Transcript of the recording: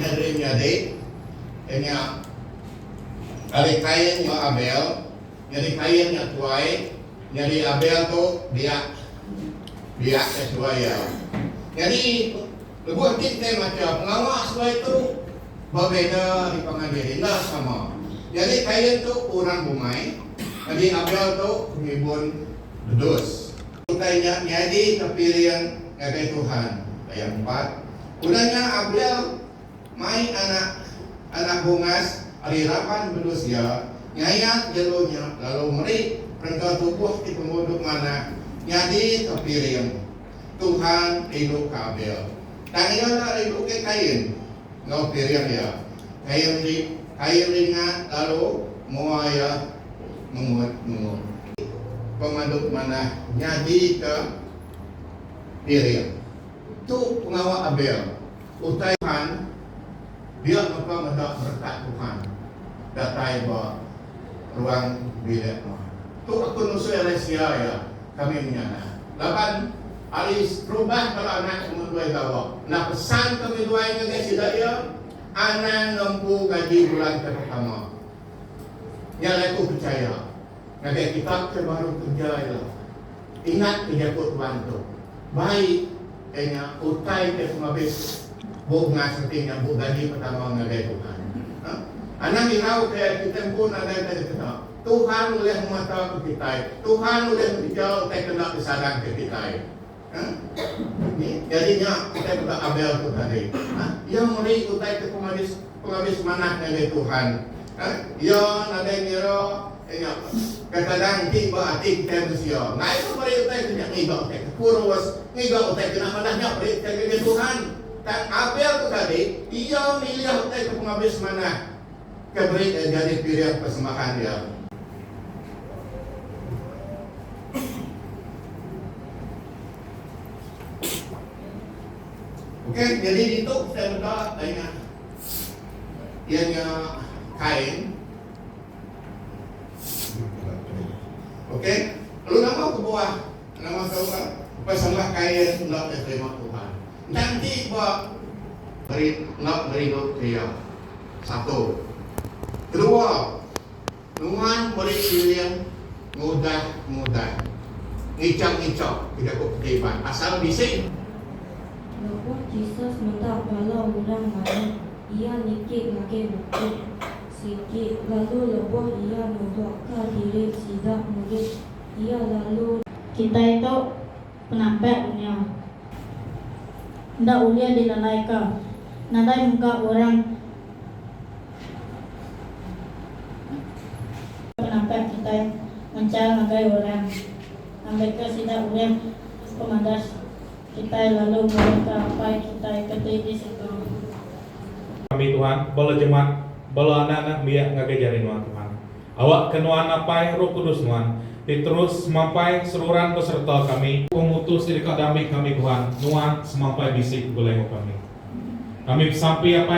Henry Menyadi nya ari Kain enggau Abel. Nyadi Kain nya tuai, nyadi Abel tu biak biak ke tuai iya. Nyadi. Lebuh enti kitai macha pengawa seduai tu ba beda di pangan diri enda sama. Nyadi Kain tu orang bumai, nyadi Abel tu pengimbun bedus. Utai nya nyadika piring ngagai Tuhan. Ayat empat. Udah nya Abel mai anak anak bungas ari raban bedus iya, ngayat jelu nya lalu meri perengka tubuh ti pengudup manah nyadika piring. Tuhan rindu ke Abel. Tang iya enda rindu ke Kain enggau piring iya. Kain ri Kain ringat lalu mua iya mengut-mengut. Pemadu manah nyadika piring. Tu pengawa Abel. Utai Tuhan, dia mega meda berekat Tuhan datai ba ruang bilik nuan. Tu aku nusui ari sia iya, kami menyana. Laban ari serubah bala anak ke meduai gawa, enda pesan kami duai ngagai sida iya, anang ngempu gaji bulan ke pertama. Nya alai aku pechaya, ngagai kita ke baru kerja ila, ingat ke jaku Tuan tu, Baik Nya utai ke semabis bunga seti nyabut gaji pertama ngagai Tuhan. Anang irau ke kita empu nadai ke dikena, Tuhan ulih ngemataku kitai, Tuhan ulih ngereja utai ke enda disadangka kitai. Jadi nya kitai meda Abel tu tadi. Iya meri utai ke pengabis manah ngagai Tuhan. Iya nadai ngira. Tengok, kadang-kadang enti ba ati kitai mensia, ngai seberai utai ke nya ngiga utai ke kurus, ngiga utai ke enda manah nya beri utai ngagai Tuhan. Tang Abel tu tadi, iya milih utai ke pengabis manah ke beri iya nyadi piring persembahan iya. Okey, nyadi ditu kitai meda daingan iya nya Kain. Okey. Lalu nama kebuah nama tu ka pesembah Kain enggau ke terima Tuhan. Enda enti ba meri enggau merindu ke Iya. Satu. Kedua, Nuan meri siling ngudah ngudah, ngichau ngichau ke jaku peti iban pasal bisi. Lebuh Jesus meda bala orang mayuh, Iya nitih ngagai buku. Sigi lalu lebuh iya nubukka diri sida murid, iya lalu. Kitai tu penampak dunya. Enda ulih dilalaika. Nadai muka orang. Penampak kitai mencar ngagai orang. Ambika sida ulih pemadas. Kitai lalu ngemuka Apai kitai ke ti di situ. Kami Tuhan, bala jemaat, bala anak-anak biak ngagai jari nuan Tuhan. Awakka nuan Apai Roh Kudus nuan ti terus semampai seruran besereta kami. Pengutus ti deka dambika kami Tuhan, nuan semampai bisi begulai enggau kami. Kami besampi Apai.